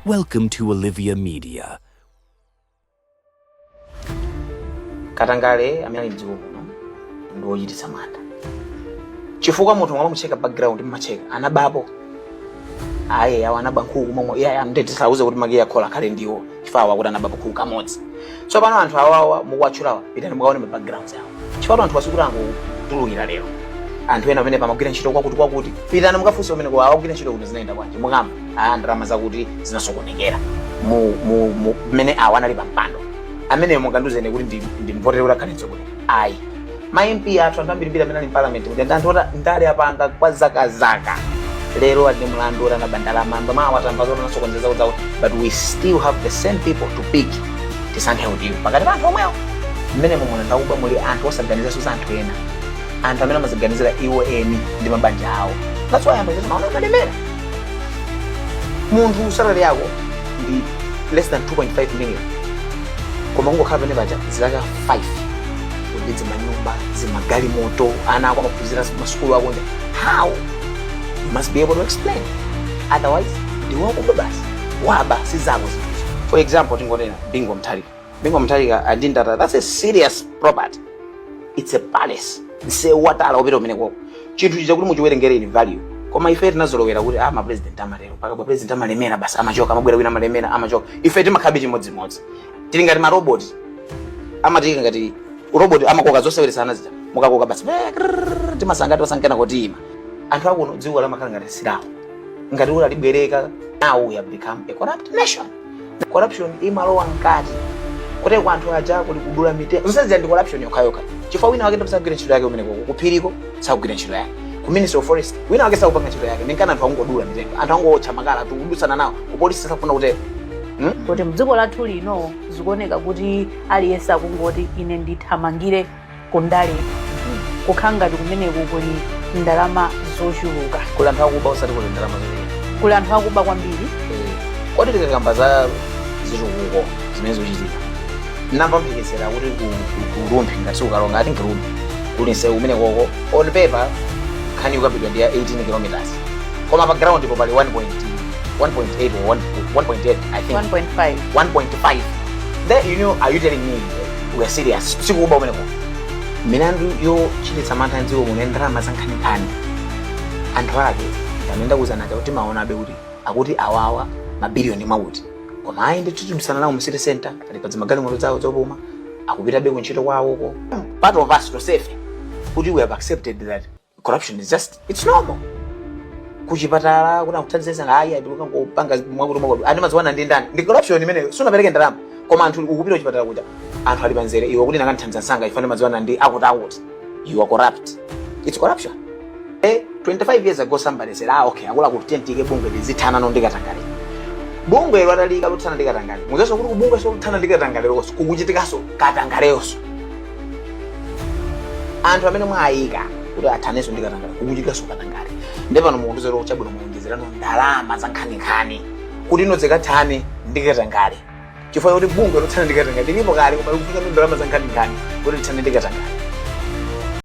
Welcome to Olivia Media. katangale amene ali mdziko kuno ndi wochititsa mantha chifukwa munthu mumamucheka background mumacheka anabapo ayi awo anaba nkhuku ndiye tisawauze kuti makiyi a khola akhale ndiwo chifukwa awa akuti anaba kakhulu kamodzi tsopano anthu awawa mukuwatchulawa pitani mukaone ma backgrounds awo chifukwa anthuwa sikuti angotulukira lero anthu ena amene amagwira ntchito kwakuti kwakuti pitani mukafunse kumene akugwira ntchito kuti zinayenda bwanji mukamva aa ndalama zakuti zinasokonekera mu mu mu mmene awa anali pampando ameneyo mukandiuze ine kuti ndi ndi mvotere kuti akhale mtsogoleri ayi ma mp athu anthu ambirimbiri amene ali mparliament kuti ndi anthu oti ndale apanga kwa zaka zaka lero ali ndi milandu yoti anaba ndalama ndi omwe awatamba zoti anasokoneza zawo zawo but we still have the same people to pick tisankhe ujeni pakati pa anthu omwewo mmenemumu muli ndi akuba muli anthu osaganizanso za anthu ena anthu amene amadziganizira iwo eni ndi mabanja awo that's why mumaona akalemera munthu salary yako ndi less than 2.5 million koma kungokhala pamenepaja zaka 5 uli ndi zimanyumba zimagalimoto ana ako amaphunzira kumasukulu akunja how you must be able to explain otherwise ndiwakuba basi waba sizako zinthuzo for example tingotenga Bingu Mutharika Bingu Mutharika ali ndi Ndata that's a serious property it's a palace msewu wa tala wopita kumenekoko chinthu chija kuti muchiwerengere in value koma ife tinazolowera kuti ah mapresident amatero paja mapresident amalemera basi amachoka amabwera wina amalemera amachoka ife timakhalabe chimodzimodzi tili ngati marobot ama tili ngati robot amakoka zoseweretsa ana zija mukakoka basi eh, krrrr, timasanga timasankana koti ife anthu akuno dziko limakhala ngati silawo ngati kuti analibwereka now we have become a corrupt nation corruption imalowa mkati kuti kwa anthu aja kuli kudula mitengo zonsezi ndi corruption yokhayokha chifukwa wina wake ndi wosagwira ntchito yake kumeneko kuphiriko sakugwira ntchito yake ku ministry of forest wina wake sakupanga ntchito yake nchifukwa anthu akungodula mitengo anthu akungowotcha makala tikudutsana nawo kupolisi sakufuna kutero Hmm? kuti mdziko lathu lino zikuoneka kuti aliyense akungoti ine ndithamangire ku ndale kukhala ngati kumeneko kuli ndalama zochuluka kuli anthu akuba osati kuli ndalama zambiri kuli anthu akuba kwambiri kodi tikakamba za zitukuko zimene zikuchitika ndamva mphekesera kuti ku- ku- ku rumphi ngati si ku Karonga ati ndi Rumphi kuli msewu kumenekoko on paper nkhani ikukambidwa ndi ya 18 kilometers koma pa ground po pali 1.8 or 1.8 i think 1.5 1.5 then you know are you telling me we are serious sikuba kumeneko milandu yochititsa mantha mdziko muno ya ndalama zankhaninkhani anthu ake ndimakuuzani aja kuti mumawaonabe kuti akuti awawa mabiliyoni mwakuti koma ayi ndithu tikudutsana nawo mu city center ali pa zimagalimoto zawo zopuma akupitabe kuntchito kwawoko part of us tonsefe kuti we have accepted that corruption is just it's normal kuchipatala kuja kukuthandiza ayi ukangopanga mwakuti mwakuti ndimadziwana ndi ndani ndi corruption imeneyo sunapereke ndalama koma anthu ukapita kuchipatala kuja anthu ali panzere iwe kuti akandithandiza msanga ine ndimadziwana ndi akuti akuti you are corrupt it's corruption eh 25 years ago somebody said ah okay akuti tiyike bungwe lizithana ndi katangale bungwe lothana ndi katangale mudzaonanso kuti kubungwe so lothana ndi katangale lonso kukuchitikanso katangale yonso anthu amene mwayika kuti athanenso ndi katangale kukuchitikanso katangale ndi pano mukundiuza kuti chabwino muonjezerano ndalama za nkhaninkhani kuti inu mukathane ndi katangale chifukwa kuti bungwe lothana ndi katangale lilipo kale koma likufika ndi ndalama za nkhaninkhani kuti lithane ndi katangale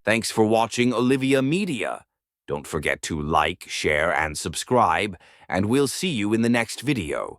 Thanks for watching Olivia Media. Don't forget to like, share, and subscribe, and we'll see you in the next video.